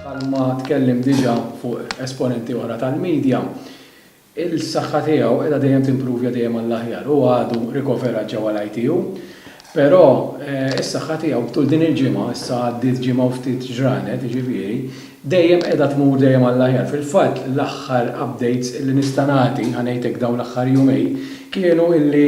Bħalma tkellem diġà fuq esponenti oħra tal-media, il-saħħa tiegħu qiegħda dejjem timprovja dejjem għall-aħjar. Hu għadu rikoverat ġewwa l-ITU, però s-saħħa tiegħu tul din il-ġimgħa, issa għaddiet ġimgħa u ftit ġranet, jiġifieri, dejjem qiegħda tmur dejjem għall-aħjar. Fil-fatt l-aħħar updates illi nista' nagħti, ħa ngħid hekk dawn l-aħħar jumejn, kienu illi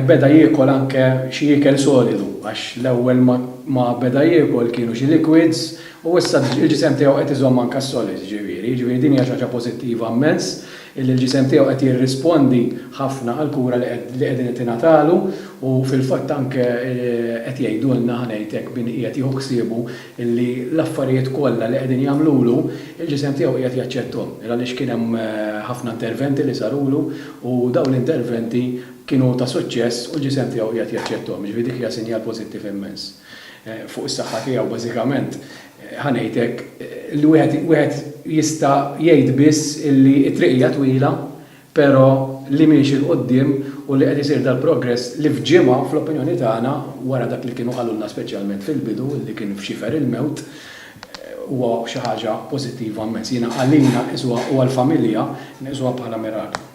beda jiekol anke xi ikel solidu għax l-ewwel ma beda jiekol kienu xi liquids u issa l-ġisem tiegħu qed iżomm anke s-solids ġifieri. Ġifieri din hija xi ħaġa pożittiva mmens illi l-ġisem tiegħu qed jirrispondi ħafna għall-kura li qegħdin qed tingħatalu u fil-fatt anke qed jgħidulna, ħa ngħid hekk, min qiegħed jieħu ħsiebu illi l-affarijiet kollha li qegħdin jagħmlulu, il-ġisem tiegħu qiegħed jaċċetthom, għaliex kien hemm ħafna interventi li sarulu u dawn l-interventi kienu ta' suċċess u l-ġisem tiegħu qiegħed jaċċetthom. Jiġifieri dik hija sinjal pożittiv immens fuq is-saħħa tiegħu. Bażikament, ħa ngħid hekk, li wieħed jista' jgħid biss illi t-triq hija twila, Però li miexi 'l quddiem u li qed isir dal-progress li f'ġimgħa, fl-opinjoni tagħna, wara dak li kienu qalulna speċjalment fil-bidu li kien f'xifer il-mewt, huwa xi ħaġa pożittiva mmens. Jiena għalina nqisuha u għall-familja nqisuha bħala miraklu.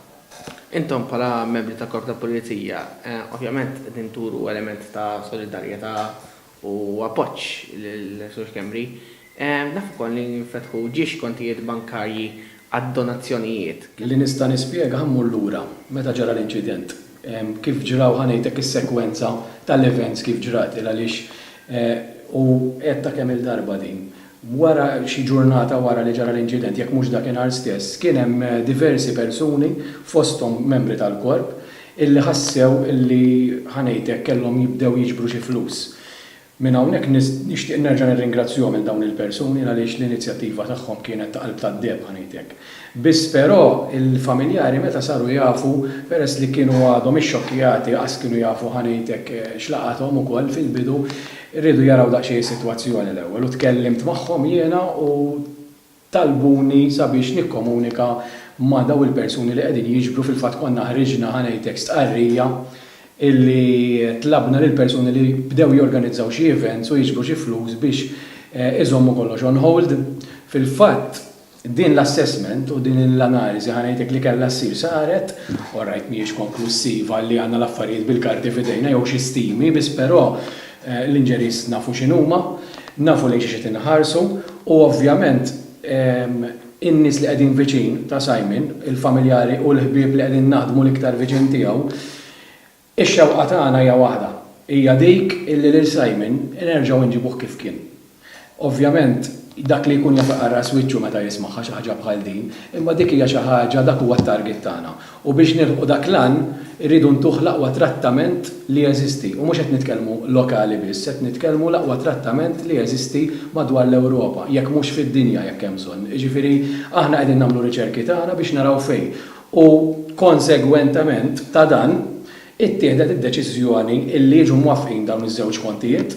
Intom bħala membri tal-Korp tal-Pulizija, ovvjament qegħdin turu element ta' solidarjetà u appoġġ lil Sur Schembri. Naf ukoll li nfetħu ġiex kontijiet bankarji għad-donazzjonijiet. Li nista' nispjega ħa mmur lura meta ġara l-inċident. Kif ġraw ħa ngħidlek is-sekwenza tal-events kif ġrat il għaliex u għedtha kemm-il darba din. Wara xi ġurnata wara li ġara l-inċident, jekk mhux dakinhar stess, kien hemm diversi persuni, fosthom membri tal-Korp, illi ħassew illi, ħa ngħid hekk, kellhom jibdew jiġbru xi flus. Minn hawnhekk nixtieq nerġa' nirringrazzjahom lil dawn il-persuni għaliex l-inizjattiva tagħhom kienet ta' qalb tad-deheb, ħa ngħid hekk. Biss però il-familjari meta saru jafu, peress li kienu għadhom ixxokkjati qas kienu jafu ħa ngħid hekk x'laqathom ukoll fil-bidu, riedu jaraw daqsxejn is-sitwazzjoni l-ewwel u tkellimt magħhom jiena u talbuni sabiex nikkomunika ma' dawn il-persuni li qegħdin jiġbru fil-fatt konna ħriġna ħa ngħid hekk stqarrija illi tlabna lill-persuni li bdew jorganizzaw xi events u jiġbru xi flus biex iżommu kollox on hold. Fil-fatt, Din l-assessment u din l-analiżi ħa ngħidlek li kellha ssir saret, orajt mhijiex konklussiva li għandna l-affarijiet bil-karti f'idejna jew xi stimi biss però l-injuries nafu x'inhuma, nafu lejn xiex qed inħarsu u ovvjament in-nies li qegħdin viċin ta' Simon, il-familjari u l-ħbieb li qegħdin naħdmu l-iktar viċin tiegħu, Ix-xewqa tagħna hija waħda, hija dik illi lil Simon nerġgħu nġibuh kif kien. Ovvjament, dak li jkun jaf iqarraq wiċċu meta jismagħha xi ħaġa bħal din, imma dik hija xi ħaġa, dak huwa t-target tagħna. U biex nilħqu dak l-għan, irridu ntuh l-aqwa trattament li jeżisti. U mhux qed nitkellmu lokali biss, qed nitkellmu l-aqwa trattament li jeżisti madwar l-Ewropa, jekk mhux fid-dinja jekk hemm bżonn. Jiġifieri, aħna qegħdin nagħmlu riċerki tagħna biex naraw fejn. u konsegwentement ta' dan ittieħdet id-deċiżjoni illi jiġu mwaffqin dawn iż-żewġ kontijiet.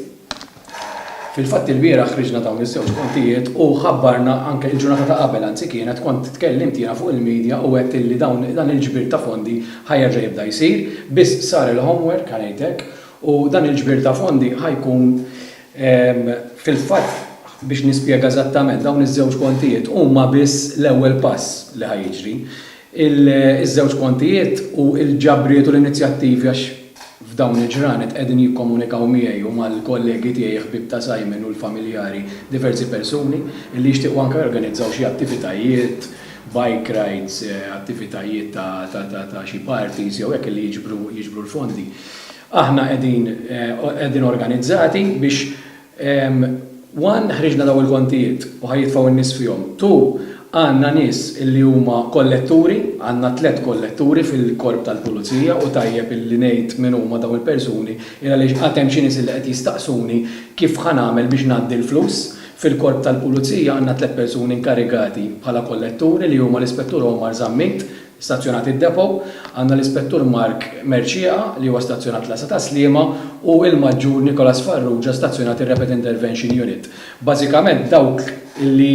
Fil-fatt ilbieraħ ħriġna dawn iż-żewġ kontijiet u ħabbarna anke il-ġurnata ta' qabel anzi kienet kont tkellimt jiena fuq il-media u għedt illi dawn dan il-ġbir ta' fondi ħa jerġa' jibda jsir biss sar il-homework ħa ngħid hekk u dan il-ġbir ta' fondi ħa jkun Fil-fatt, biex nispjega eżattament, dawn iż-żewġ kontijiet huma biss l-ewwel pass li ħa jiġri. Iż-żewġ kontijiet u l-ġabriet u l-inizjattivi għax f'dawn il-ġranet qegħdin jikkomunikaw miegħi u mal-kollegi tiegħi ħbieb ta' Simon u l-familjari diversi persuni li jixtiequ anke jorganizzaw xi attivitajiet, bike rides, attivitajiet ta' xi parties jew hekk li jiġbru l-fondi. Aħna qegħdin qegħdin organizzati biex one ħriġna dawn il-kontijiet u ħa jitfgħu n-nies fihom, two għandna nies illi huma kolletturi, għandna tliet kolletturi fil-Korp tal-Pulizija u tajjeb illi ngħid min huma dawn il-persuni il għaliex għad hemm xi nies illi qed jistaqsuni kif ħa nagħmel biex ngħaddi l-flus. Fil-Korp tal-Pulizija għandna tliet persuni inkarigati bħala kolletturi li huma l-Ispettur Omar Zammit, Stazzjonat id-depo, għandna l-Ispettur Mark Mercieca li huwa stazzjonat l-Għassa tas-Sliema u l-Maġġur Nicholas Farrugia stazzjonat ir-Rapid Intervention Unit. Bażikament dawk li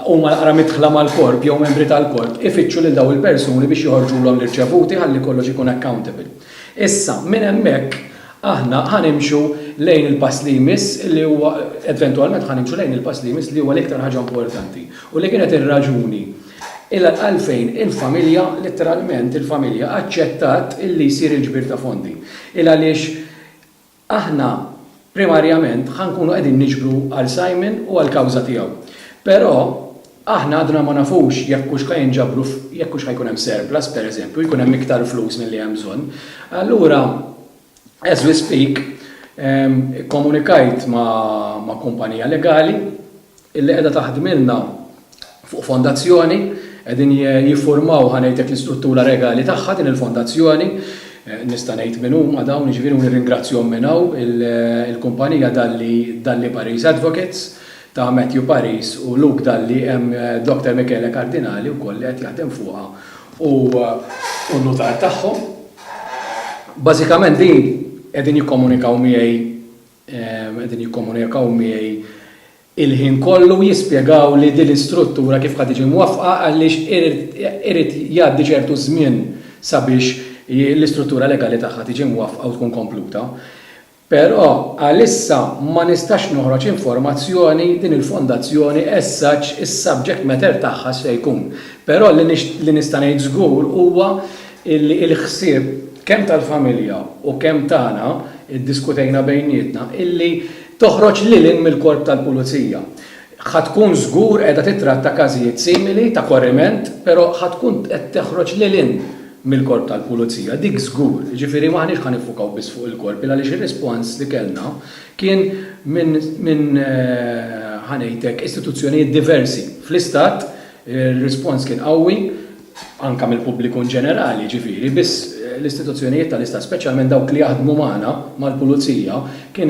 huma l-aqra midħla mal-Korp jew membri tal-Korp ifittxu lil dawn il-persuni biex joħorġulhom l-irċevuti ħalli kollox ikun accountable. Issa, minn hemmhekk aħna ħa nimxu lejn il-pass li jmiss li huwa, eventwalment ħa nimxu lejn il-pass li jmiss li huwa l-iktar ħaġa importanti u li kienet ir-raġuni Ilha għalfejn il-familja, litteralment il-familja, aċċettat illi jsir il-ġbir ta' fondi. Ilha għaliex aħna primarjament ħa nkunu qegħdin niġbru għal Simon u għall-kawża tiegħu. Però aħna għadna ma nafux jekk hux ħa jinġabru jekk hux ħa jkun hemm surplus, pereżempju, jkun hemm iktar flus milli hemm bżonn. Allura, as we speak, ikkomunikajt ma' kumpanija legali, illi qiegħda taħdmilna fuq fondazzjoni, qegħdin jiffurmaw ħa ngħidlek l-istruttura regali tagħha din il-fondazzjoni, nista' ngħid min huma dawn, jiġifieri u nirringrazzjahom minn hawn, il-kumpanija Dalli Dalli Paris Advocates ta' Matthew Paris u Luke Dalli hemm Doctor Michele Cardinali wkoll li qed jaħdem fuqha u n-nutar tagħhom. Bażikament din qegħdin jikkomunikaw miegħi qegħdin jikkomunikaw miegħi l-ħin kollu jispjegawli din l-istruttura kif ħa tiġi mwaffqa għaliex irid jgħaddi ċertu żmien sabiex l-istruttura legali tagħha tiġi mwaffqa u tkun kompluta. Però għalissa ma nistax noħroġ informazzjoni din il-fondazzjoni as such is-subject matter tagħha x'se jkun. Però li nista' ngħid żgur huwa illi l-ħsieb kemm tal-familja u kemm tagħna ddiskutejna bejnietna illi toħroġ lil hinn mill-Korp tal-Pulizija. Ħa tkun żgur qiegħda tittratta każijiet simili ta' korriment però ħa tkun qed toħroġ lil hinn mill-Korp tal-Pulizija, dik żgur. Jiġifieri m'aħniex ħa niffukaw biss fuq il-Korp għaliex ir-rispons li kellna kien minn, ħa ngħidlek, istituzzjonijiet diversi fl-Istat, ir-rispons kien qawwi, anke mill-pubbliku inġenerali, jiġifieri, biss l-istituzzjonijiet tal-Istat, speċjalment dawk li jaħdmu magħna, mal-pulizija, kien